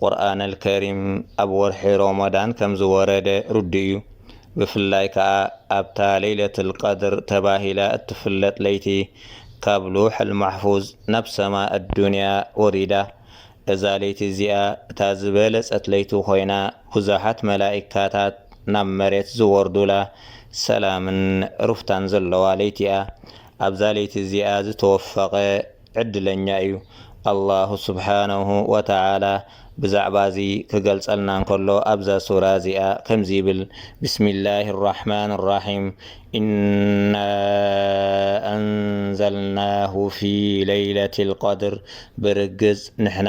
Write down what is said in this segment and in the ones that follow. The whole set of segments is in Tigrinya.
ቁርኣን ኣልከሪም ኣብ ወርሒ ሮሞዳን ከምዝወረደ ርዱእ እዩ። ብፍላይ ከኣ ኣብታ ለይለቱል ቀድር ተባሂላ እትፍለጥ ለይቲ ካብ ሉሑል ማሕፉዝ ናብ ሰማ ኣዱንያ ወሪዳ። እዛ ለይቲ እዚኣ እታ ዝበለጸት ለይቲ ኮይና ብዙሓት መላኢካታት ናብ መሬት ዝወርዱላ ሰላምን ሩፍታን ዘለዋ ለይቲ'ያ። ኣብዛ ለይቲ እዚኣ ዝተወፈቐ ዕድለኛ እዩ። ኣላሁ ስብሓነሁ ወተዓላ ብዛዕባ እዚ ክገልጸልና እንከሎ ኣብዛ ሱራ እዚኣ ከምዚ ይብል፣ ብስሚላሂ ራሕማኒ ራሒም፣ ኢና ኣንዘልናሁ ፊ ለይለቲል ቀድር፣ ብርግጽ ንሕና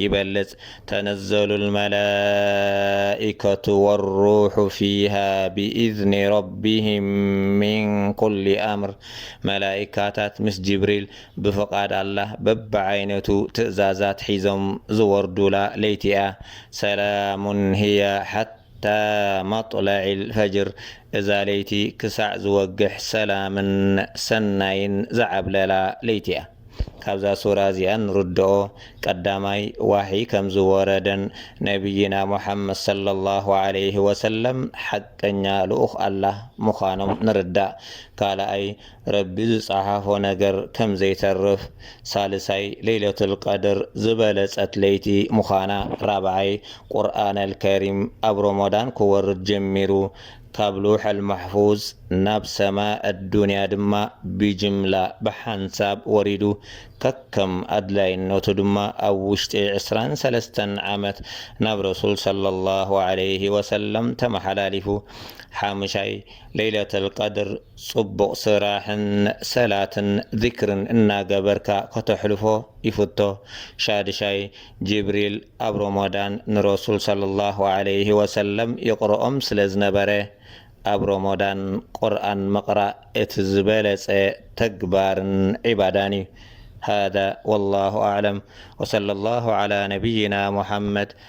ይበልጽ ተነዘሉ ልመላኢከቱ ወሩሑ ፊሃ ብኢዝኒ ረቢህም ምን ኩሊ ኣምር መላኢካታት ምስ ጅብሪል ብፍቃድ ኣላህ በብዓይነቱ ትእዛዛት ሒዞም ዝወርዱላ ለይቲ እያ ሰላሙን ህየ ሓታ እታ ማጥላዒል ፈጅር እዛ ለይቲ ክሳዕ ዝወግሕ ሰላምን ሰናይን ዝዓብለላ ለይቲ እያ። ካብዛ ሱራ እዚኣ እንርድኦ ቀዳማይ ዋሕይ ከም ዝወረደን ነብይና ሙሓመድ ሰለላሁ ዓለይሂ ወሰለም ሓቀኛ ልኡኽ ኣላህ ምዃኖም ንርዳእ። ካልኣይ ረቢ ዝጸሓፎ ነገር ከም ዘይተርፍ፣ ሳልሳይ ለይለቱል ቀድር ዝበለጸት ለይቲ ምዃና፣ ራብዓይ ቁርኣነል ከሪም ኣብ ሮሞዳን ክወርድ ጀሚሩ፣ ካብ ሉውሐል ማሕፉዝ ናብ ሰማእ ኣዱንያ ድማ ብጅምላ ብሓንሳብ ወሪዱ፣ ከከም ኣድላይነቱ ድማ ኣብ ውሽጢ ዕስራን ሰለስተን ዓመት ናብ ረሱል ሰለላሁ ዓለይሂ ወሰለም ተመሓላሊፉ፣ ሓምሻይ ለይለቱል ቀድር ጽቡቅ ስራሕን ሰላትን ዚክርን እናገበርካ ከተሕልፎ ይፍቶ ሻድሻይ ጅብሪል ኣብ ሮሞዳን ንረሱል ሰለሏሁ ዓለይሂ ወሰለም የቅርኦም ስለ ዝነበረ ኣብ ሮሞዳን ቁርኣን ምቅራእ እቲ ዝበለጸ ተግባርን ዒባዳን እዩ ሃዛ ወላሁ ኣዕለም ወሰለሏሁ ዓላ ነብይና ሙሓመድ